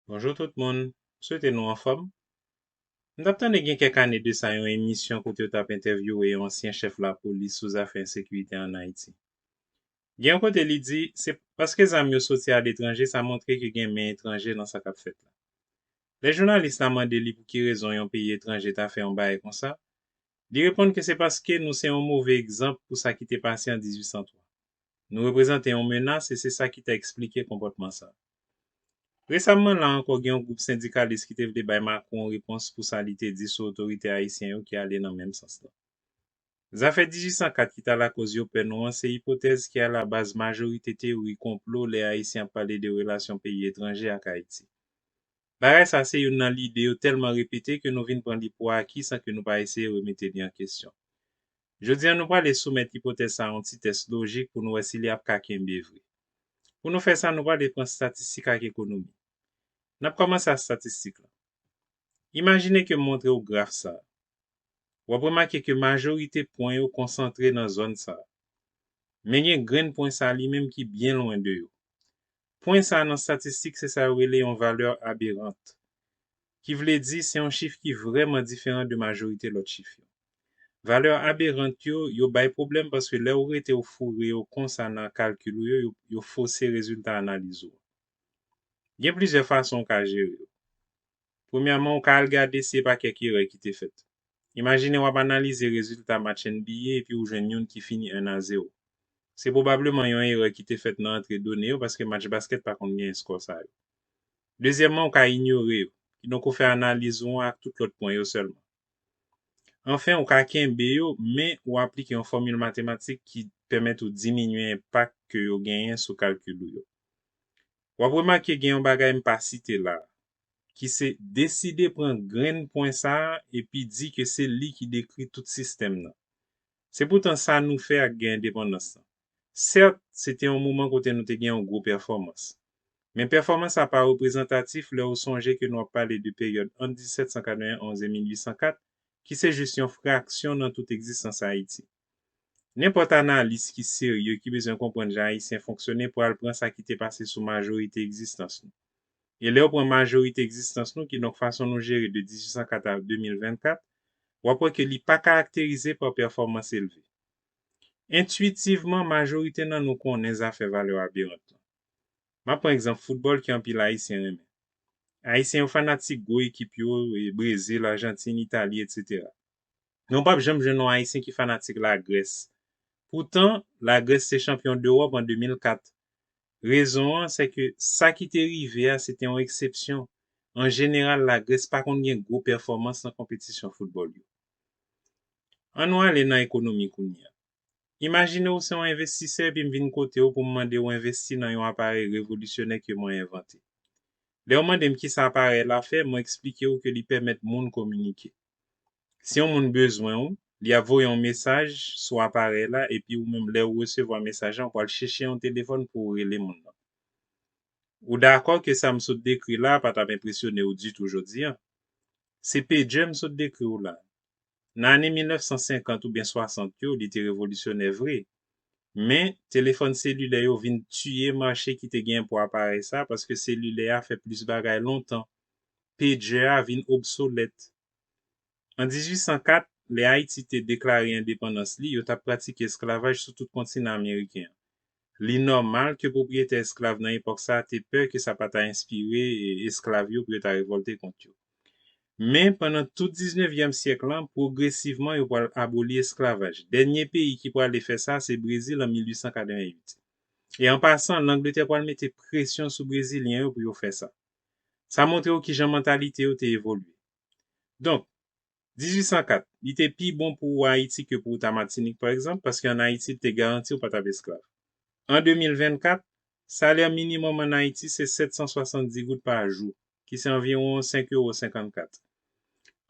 Bonjou tout moun, m swete nou anfòm. M t ap tande gen kèk ane de sa yon emisyon kote yo t ap entèvyouwe yon ansyen chèf lapolis sou zafè ensekirite ann Ayiti. Gen yon kote li di, se paske zam yo soti aletranje sa montre ke gen men etranje nan sa k ap fèt la. Lè jounalis la mande li pou ki rezon yon peyi etranje ta fè yon bagay konsa, li reponn ke se paske nou se yon move egzanp pou sa ki te pase an 1803. Nou reprezante yon menas e se sa ki ta eksplike konpòtman sa. Resamman la ankò gen yon gwoup sendikalis ki te vle bay Macron yon repons pou sa li te di sou otorite ayisyen yo ki ale nan menm sans lan. Zafè diji 104 ki ta lakoz yo pè nou an se ipotèz ki alabaz majorite teyori konplo lè ayisyen ap pale de relasyon peyi etranje ak Ayiti. Bagay sa se youn nan lide yo tèlman repete ke nou vin pran li pou aki san ke nou pa eseye remete li an kesyon. Jodi a nou prale soumèt ipotèz sa a yon ti tès lojik pou nou wè si li ap ka kenbe vre. Pou nou fè sa nou prale pran statistik ak ekonomi. N ap kòmanse a statistik lan. Imajine ke m montre ou graf sa a. W ap remake ke majorite pwen yo konsantre nan zòn sa a. Men gen grenn pwen sa a li menm ki byen lwen de yo. Pwen sa nan statistik se sa yo rele yon valeur aberrant. Ki vle di se yon chif ki vrèman diferan de majorite lòt chif yo. Valeur aberrant yo, yo bay pwoblèm paske lè ou rete ou foure yo konsa nan kalkil ou yo, yo fose rezilta analiz ou an. Gen plizyè fason ou ka jere yo. Premyèman, ou ka al gade si e pa kèk erè ki te fèt. Imajine w ap analize rezilta match NBA epi ou jwenn youn ki fini 1 a 0. Se pwobableman yon erè ki te fèt nan antre done yo paske match baskèt pa konn gen eskò sa yo. Dezyèmman, ou ka inyore yo, kidonk ou fè analiz ou an ak tout lòt pwen yo sèlman. Anfen, ou ka kenbe yo, men ou aplike yon fòmil matematik ki pèmèt ou diminye enpak ke yo genyen sou kalkil ou yo. W ap remake gen yon bagay m pa site la a, ki se deside pran grenn pwen sa a epi di ke se li ki dekri tout sistèm nan. Se poutan sa nou fè ak gè endepandans lan. Sèt, se te yon moman kote nou te gen yon gwo pèfòmans. Men pèfòmans sa pa reprezantatif lè ou sonje ke nou ap pale de peryòd ant 1791 e 1804 ki se jis yon fraksyon nan tout egzistans Ayiti. Nenpòt analis ki serye ki bezwen konprann jan Ayisyen fonksyone pral pran sa ki te pase sou majorite egzistans nou. E lè w pran majorite egzistans nou, kidonk fason nou jere de 1804 a 2024, w ap wè ke li pa karakterize pa pèfòmans elve. Entuitivman, majorite nan nou konnen zafè valè aberant lan. M ap pran egzanp foutbòl ke anpil Ayisyen renmen. Ayisyen yo fanatik gwo ekip yo, Brezil, Ajantin, Itali, etc. men ou pap janm jwenn yon Ayisyen ki fanatik Lagrès. Poutan, Lagrès se chanpyon dEwòp an 2004. Rezon an, sèke sa ki te rive a se te yon eksepsyon. An jeneral, Lagrès pa konn gen gwo pèfòmans nan konpetisyon foutbòl yo. An nou ale nan ekonomi kounye a. Imajine ou se yon envestisè epi m vin kote ou pou m mande ou envesti nan yon aparèy revolisyonè ke mwen envante. Lè ou mande m kisa aparèy la fè, mwen eksplike ou ke li pèmèt moun kominike. Si yon moun bezwen ou, li ap voye yon mesaj sou aparèy la epi ou menm lè ou resevwa mesaj la ou pral chèche yon telefòn pou ou rele moun nan. Ou dakò ke sa m sot dekri la a pa t ap enpresyone ou ditou jodi a? Se pejè m sot dekri ou la a. Nan ane 1950 oubyen 60 yo, li te revolisyonè vre. Men, telefòn selilè yo vin tiye mache ki te genyen pou aparèy sa a paske selilè a fè plis bagay lontan. pejè a vin obsolèt. An 1804, lè Ayiti te deklare endepandans li, yo t ap pratike esklavaj sou tout kontinan ameriken an. Li nòmal ke pwopriyetè esklav nan epòk sa a te pè ke sa pa ta enspire esklav yo pou yo ta revòlte kont yo. Men, pandan tout diznevyèm syèk lan, pwogresivman yo pral aboli esklavaj. Dènye peyi ki prale fè sa, se Brezil an 1888. E an pasan, Langletè pral mete presyon sou Brezilyen yo pou yo fè sa. Sa montre w kijan mantalite yo te evolye. Donk, 1804, li te pi bon pou ou Ayiti ke pou ou ta Matinik, pa egzanp, paske an Ayiti li te garanti ou pa t ap esklav. An 2024, salè minimòm an Ayiti se 770 goud pa jou, ki se anviwon 5 euro 54.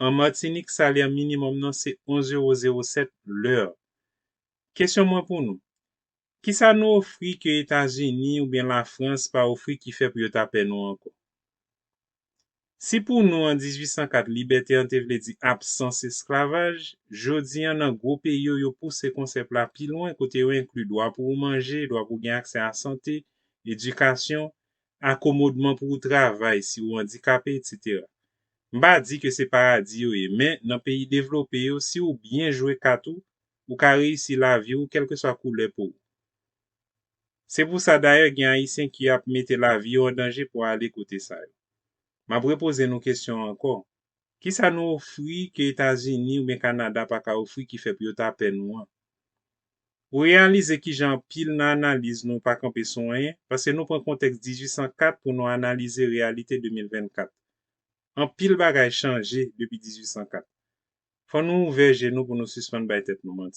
An Matinik, salè minimòm nan se 11 euro 07 lè. Kesyon mwen pou nou, Kisa nou ofri ke Etazini oubyen Lafrans pa ofri ki fè pou yo ta pè nou ankò? Si pou nou an 1804 libète an te vle di absans esklavaj, jodi an nan gwo peyi yo yo pouse konsèp la pi lwen kote yo enkli dwa pou ou manje, dwa pou ou gen aksè a sante, edikasyon, akomodman pou ou travay si ou andikape etc. M pa di ke se paradi yo ye men nan peyi devlope yo si ou byen jwe kat ou ou ka reyisi lavi ou kèlkeswa koulè po ou. Se pou sa dayè gen ayisyen ki ap mete lavi yo an danje pou ale kote sa yo. M ap repoze nou kesyon an ankò, kisa nou ofri ke Etazini oubyen Kanada pa ka ofri ki fè pou yo ta pè nou an? Ou reyalize kijan anpil nan analiz nou pa kanpe sou anyen, paske nou pran kontèks 1804 pou nou analize reyalite 2024. Anpil bagay chanje depi 1804. Fò nou ouvè je nou pou nou sispann bay tèt nou manti.